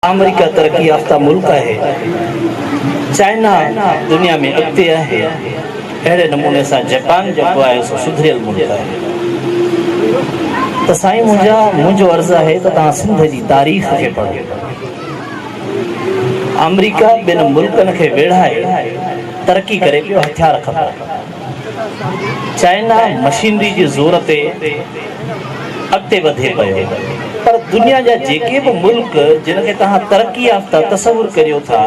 آمريڪا ترقي يافته ملڪ آهي، چائنا دنيا ۾ اڳتي آهي، اهڙي نموني سان جپان جيڪو آهي سو سڌريل ملڪ آهي. ته سائين منهنجا منهنجو عرض آهي ته توهان سنڌ جي تاريخ کي پڙهو. آمريڪا ٻن ملڪن کي ويڙهائي ترقي ڪري پيو هٿيار کپن. چائنا مشينري جي زور تي اڳتي وڌي پيو پر دنيا جا جيڪي به ملڪ جن کي توهان ترقي يافته تصور ڪريو ٿا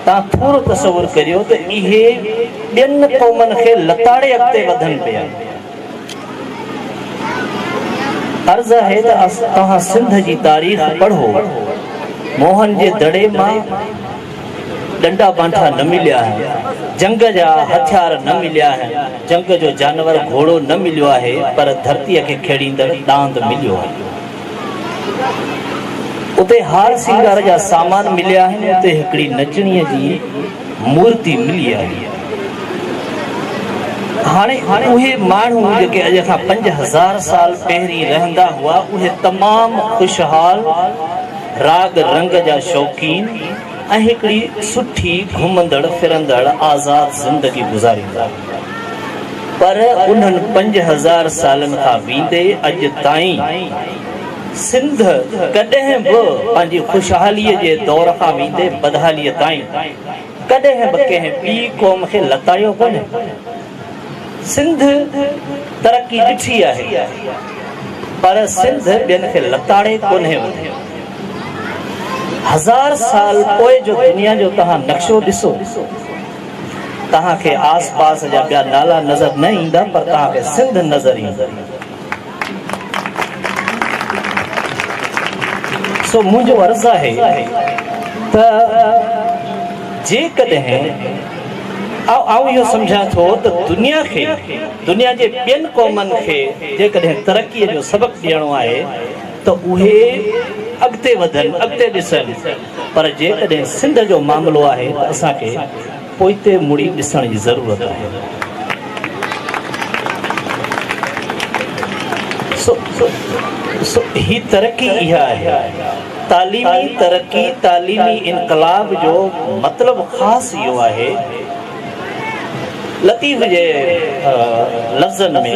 توهان ٿورو تصور ڪريو ته اهي ٻين قومن کي لتاڙي اڳتي وڌن پيا. عرض آهي ته توهان سنڌ جي تاريخ پڙهو، موهن جي دڙي مان ڏنڊا بانٺا نه مليا آهن، جنگ جا هٿيار نه مليا آهن، جنگ جو جانور گهوڙو نه مليو آهي پر ڌرتيء کي کيڙيندڙ ڏاند مليو آهي. اتي هار سينگار جا سامان مليا آهن، اتي هڪڙي نچڻيء جي. مورتي ملي آهي. هاڻي اهي ماڻهو جيڪي اڄ کان پنج هزار سال پهرين رهندا هئا اهي تمام خوشحال، راڳ رنگ جا شوقين ۽ هڪڙي سٺي گهمندڙ ڦرندڙ آزاد زندگي گذاريندا هئا. پر انهن پنج هزار سالن کان ويندي اڄ تائين. سنڌ ڪڏهن به پنهنجي خوشحاليء جي دور کان ويندي بدحاليء تائين ڪڏهن به ڪنهن ٻي قوم کي لتايو ڪونهي. سنڌ ترقي ڏٺي آهي پر سنڌ ٻين کي لتاڙي ڪونهي وڌي. هزار سال پوء جو دنيا جو توهان نقشو ڏسو توهان کي آس پاس جا ٻيا نالا نظر نه ايندا پر توهان کي سنڌ نظر ايندي. سو منهنجو عرض آهي ته جيڪڏهن آئون اهو سمجهان ٿو ته دنيا کي دنيا جي ٻين قومن کي جيڪڏهن ترقي جو سبق ڏيڻو آهي ته اهي اڳتي وڌن اڳتي ڏسن پر جيڪڏهن سنڌ جو معاملو آهي ته اسان کي پوئتي مڙي ڏسڻ جي ضرورت آهي سو سو هي ترقي اها آهي تعليمي ترقي تعليمي انقلاب جو مطلب خاص اهو آهي لطيف جي لفظن ۾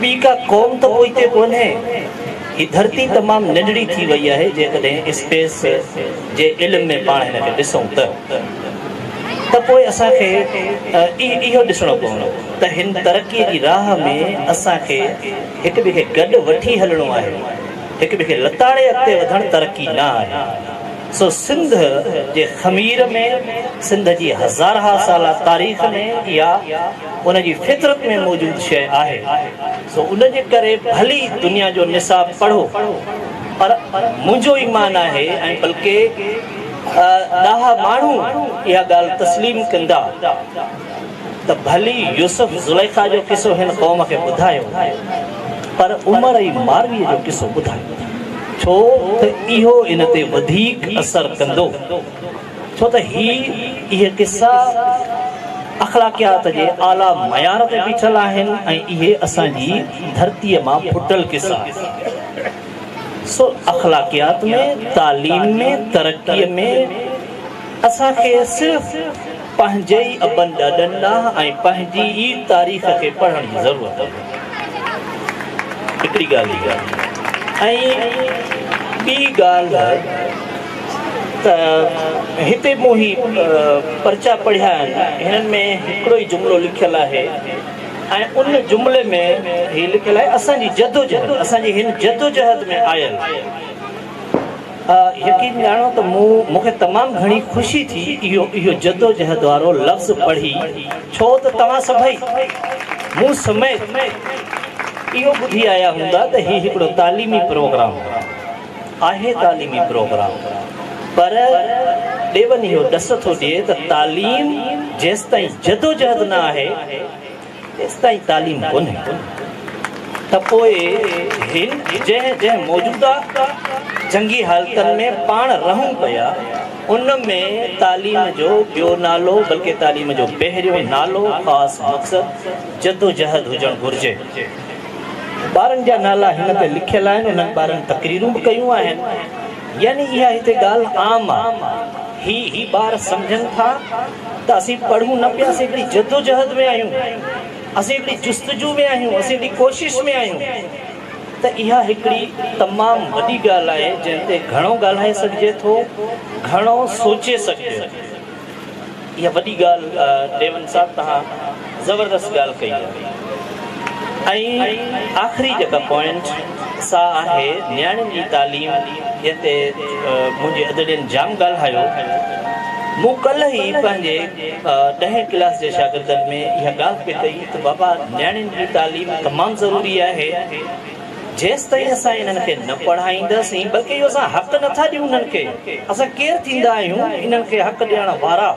ٻي ڪا قوم ته پوئتي ڪونهي. هي ڌرتي تمام ننڍڙي ٿي وئي آهي جيڪڏهن اسپيس جي علم ۾ پاڻ هن کي ڏسون ته ته پوء اسان کي اهو ڏسڻو پوندو ته هن ترقي جي راهه ۾ اسان کي هڪ ٻئي کي گڏ وٺي هلڻو آهي هڪ ٻئي کي لتاڙي اڳتي وڌڻ ترقي نه آهي سو سنڌ جي خمير ۾ سنڌ جي هزارها سالا تاريخ ۾ اها ان جي فطرت ۾ موجود شيء آهي، سو ان جي ڪري ڀلي دنيا جو نصاب پڙهو، پر منهنجو ايمان آهي ۽ بلڪه ڏاها ماڻهو اها ڳالهه تسليم ڪندا ته ڀلي يوسف زليخا جو قصو هن قوم کي ٻڌايو، پر عمر عي مارويء جو قصو ٻڌايو، ڇو ته اهو ان تي وڌيڪ اثر ڪندو. ڇو ته هي اهي قصا اخلاقيات جي اعليٰ معيار تي بيٺل آهن ۽ اهي اسان جي ڌرتيء مان ڦٽل قصا آهن. سو اخلاقيات ۾، تعليم ۾، ترقيء ۾، اسان کي صرف پنهنجي ئي ابن ڏاڏن ڏانهن ۽ پنهنجي ئي تاريخ کي پڙهڻ جي ضرورت آهي. هڪڙي ڳالهه اها ۽ ٻي ڳالهه ته هتي مون هي پرچا پڙهيا آهن، هنن ۾ هڪڙو ئي جملو لکيل آهي ۽ ان جملي ۾ هي لکيل آهي اسان جي جدوجهد، اسان جي هن جدوجهد ۾ آيل يقين ڄاڻو ته مون مون کي تمام گهڻي خوشي ٿي اهو اهو جدوجهد وارو لفظ پڙهي ڇو ته توهان سڀئي مون سميت اهو ٻڌي آيا هوندا ته هي هڪڙو تعليمي پروگرام آهي تعليمي پروگرام پر ڏيون اهو ڏس ٿو ڏئي ته تعليم جيستائين جدوجهد نه آهي تيستائين تعليم ڪونهي ته پوء هن جنهن جنهن موجوده جنگي حالتن ۾ پاڻ رهون پيا ان ۾ تعليم جو ٻيو نالو بلڪه تعليم جو پهريون نالو خاص مقصد جدوجهد هجڻ گهرجي. ٻارن جا نالا هن تي لکيل آهن، انهن ٻارن تقريرون به ڪيون آهن، يعني اها هتي ڳالهه عام آ، هي هي ٻار سمجهن ٿا ته اسين پڙهون نه پيا، اسين هڪڙي جدوجهد ۾ آهيون، اسين هڪڙي جستجو ۾ آهيون، اسين هڪڙي ڪوشش ۾ آهيون ته اها هڪڙي تمام وڏي ڳالهه آهي، جنهن تي گهڻو ڳالهائي سگهجي ٿو، گهڻو سوچي سگهجي ٿو. اها وڏي ڳالهه ڊيون صاحب توهان زبردست ڳالهه ڪئي آهي ۽ آخري جيڪا پوائنٽ سا آهي نياڻين جي تعليم جنهن تي منهنجي ادڙين جام ڳالهايو مون ڪلهه ئي پنهنجي ڏهين ڪلاس جي شاگردن ۾ اها ڳالهه پئي ڪئي ته بابا نياڻين جي تعليم تمام ضروري آهي جيستائين اسان انهن کي نه پڙهائينداسين، بلڪه اهو اسان حق نه ٿا ڏيون انهن کي، اسان ڪير ٿيندا آهيون انهن کي حق ڏيڻ وارا،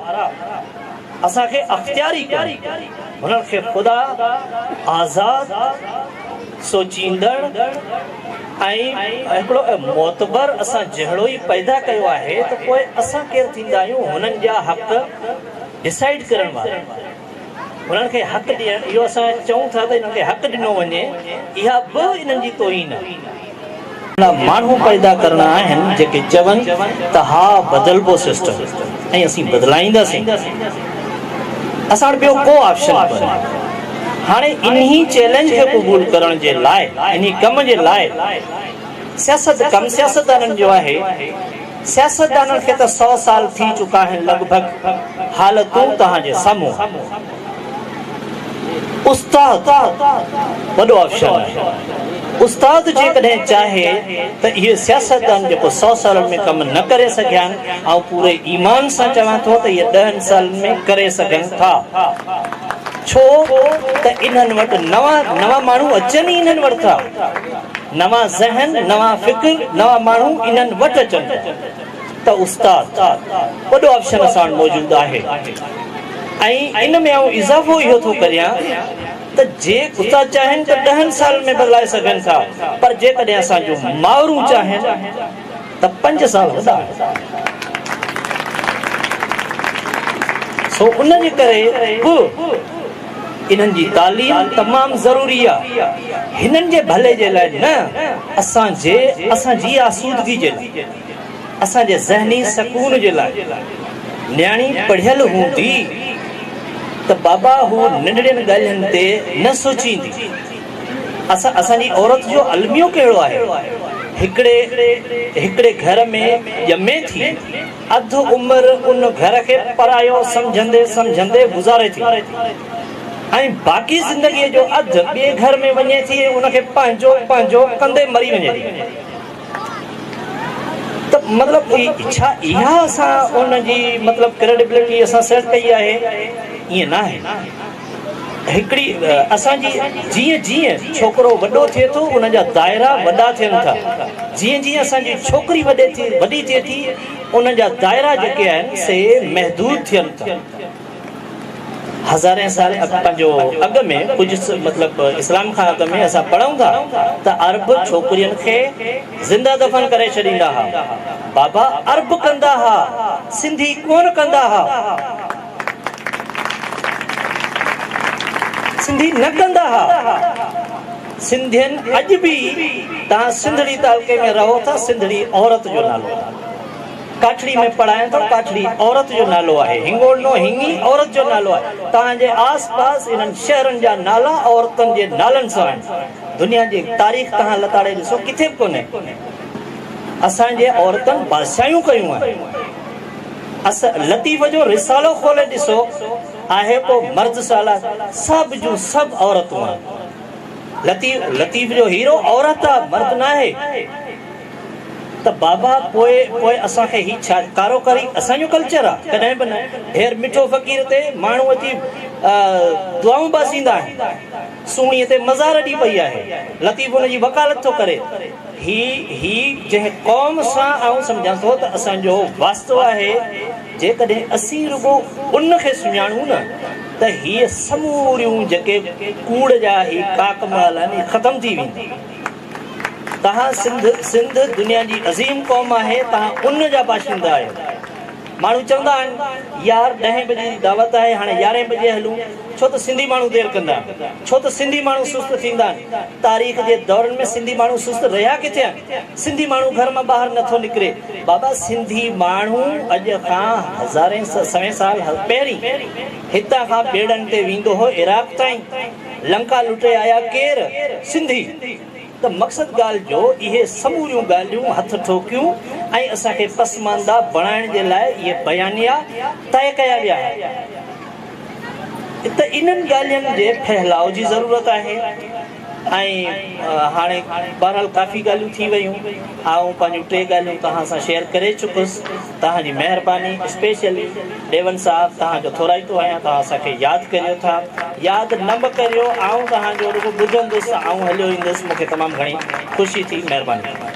اسان کي اختيار ئي ڪونهي، هنن کي خدا آزاد، سوچيندڙ ۽ هڪڙو معتبر اسان جهڙو ئي پيدا ڪيو آهي ته پوء اسان ڪير ٿيندا آهيون هنن جا حق ڊسائيڊ ڪرڻ وارا. انهن کي حق ڏيڻ، اهو اسان چئون ٿا ته انهن کي حق ڏنو وڃي، اها به انهن جي توهين آهي. اهڙا ماڻهو پيدا ڪرڻا آهن جيڪي چون ته ها بدلبو سسٽم ۽ اسين بدلائينداسين، اسان وٽ ٻيو ڪو آپشن ڪونهي. هاڻي انهي چئلينج کي قبول ڪرڻ جي لاء، انهي ڪم جي لاء سياست ڪم سياستدانن جو آهي. سياستدانن کي ته سؤ سال ٿي چڪا آهن لڳ ڀڳ حالتون توهان جي سامهون استاد وڏو آفشل آهي استاد جيڪڏهن چاهي ته اهي سياستدان جيڪو سؤ سالن ۾ ڪم نه ڪري سگهيا آهن آئون پوري ايمان سان چوان ٿو ته اهي ڏهن سالن ۾ ڪري سگهن ٿا ڇو ته انهن وٽ نوان نوان ماڻهو اچن ئي انهن وٽ ٿا نوان ذهن، نوان فڪر، نوان ماڻهو انهن وٽ اچن ٿا ته استاد وڏو آپشن اسان وٽ موجود آهي ۽ ان ۾ آئون اضافو اهو ٿو ڪريان ته جي استاد چاهين ته ڏهن سالن ۾ بدلائي سگهن ٿا پر جيڪڏهن اسان جون مائرون چاهين ته پنج سال وڏا آهن سو ان جي ڪري به انهن جي تعليم تمام ضروري آهي هنن جي ڀلي جي لاء نه اسان جي اسان جي آسودگي جي لاء اسان جي ذهني سڪون جي لاء نياڻي پڙهيل هوندي ته بابا هو ننڍڙين ڳالهين تي نه سوچيندي اسان جي عورت جو الميو ڪهڙو آهي؟ هڪڙي هڪڙي گهر ۾ ڄمي ٿي، اڌ عمر ان گهر کي پرايو سمجهندي سمجهندي گذاري ٿي ۽ باقي زندگيء جو اڌ ٻئي گهر ۾ وڃي ٿي ۽ ان کي پنهنجو پنهنجو ڪندي مري وڃي ٿي ته مطلب ڇا اها اسان ان جي مطلب ڪريڊبلٽي اسان سيٽ ڪئي آهي؟ ائين ناهي. هڪڙي اسان جي جيئن جيئن ڇوڪرو وڏو ٿئي ٿو ان جا دائرا وڏا ٿين ٿا جيئن جيئن اسان جي ڇوڪري وڏي ٿي وڏي ٿئي ٿي ان جا دائرا جيڪي آهن سي محدود ٿين ٿا هزارين سال پنهنجو اڳ ۾ ڪجهه مطلب اسلام کان اڳ ۾ اسان پڙهون ٿا ته عرب ڇوڪرين کي زنده دفن ڪري ڇڏيندا ها بابا عرب ڪندا ها سنڌي ڪون ڪندا ها سنڌي نه ڪندا ها سنڌين اڄ به تان سنڌڙي تعلقي ۾ رهو ٿا سنڌڙي عورت جو نالو ڪاٺڙي ۾ پڙهايان ٿو ڪاٺڙي عورت جو نالو آهي هنگول نو هنگي عورت جو نالو آهي تان جي آس پاس انهن شهرن جا نالا عورتن جي نالن سان آهن دنيا جي تاريخ تان لتاڙي ڏسو ڪٿي به ڪونهي اسان جي عورتن بادشاهيون ڪيون آهن اس لطيف جو رسالو کولي ڏسو آهي ڪو مرد سالا سڀ جون سڀ عورتون آهن لطيف لطيف جو هيرو عورت آ مرد ناهي ته بابا پوء پوء اسان کي هي ڇا ڪارو ڪري اسان جو ڪلچر آ ڪڏهن به نه هير مٺو فقير تي ماڻهو اچي دعائون باسيندا آهن سوڻي تي مزار اڏي پئي آهي لطيف ان جي وڪالت ٿو ڪري هي هي جنهن قوم سان آئون سمجهان ٿو ته اسان جو واسطو آهي، جيڪڏهن اسين رڳو ان کي سڃاڻون نه ته هيء سموريون جيڪي ڪوڙ جا هي ڪاڪ مال آهن اهي ختم ٿي ويندي. توهان سنڌ سنڌ دنيا جي عظيم قوم آهي توهان ان جا باشندا آهيو. ماڻهو چوندا آهن يار ڏهين بجي جي دعوت آهي هاڻي يارهين بجي هلون ڇو ته سنڌي ماڻهو دير ڪندا ڇو ته سنڌي ماڻهو سست ٿيندا آهن تاريخ جي دورن ۾ سنڌي ماڻهو سست رهيا ڪٿي آهن سنڌي ماڻهو گهر مان ٻاهر نه ٿو نڪري بابا سنڌي ماڻهو اڄ کان هزارين سوين سال پهرين هتان کان ٻيڙن تي ويندو هو عراق تائين لنڪا لٽي آيا ڪير سنڌي ته مقصد ڳالهه جو اهي سموريون ڳالهيون هٿ ٺوڪيون ۽ اسان کي پسمانده بڻائڻ جي لاء اهي بيانيا طئي ڪيا ويا آهن ته انهن ڳالهين جي ڦهلاء جي ضرورت آهي ۽ هاڻي بهرحال ڪافي ڳالهيون ٿي ويون آئون پنهنجون ٽي ڳالهيون توهان سان شيئر ڪري چڪس. توهان جي مهرباني اسپيشلي ڊيون صاحب توهان جو ٿورائتو آهيان توهان اسان کي ياد ڪريو ٿا ياد نه به ڪريو آئون توهان جو رڳو ٻڌندس آئون هليو ايندس مون کي تمام گهڻي خوشي ٿي مهرباني.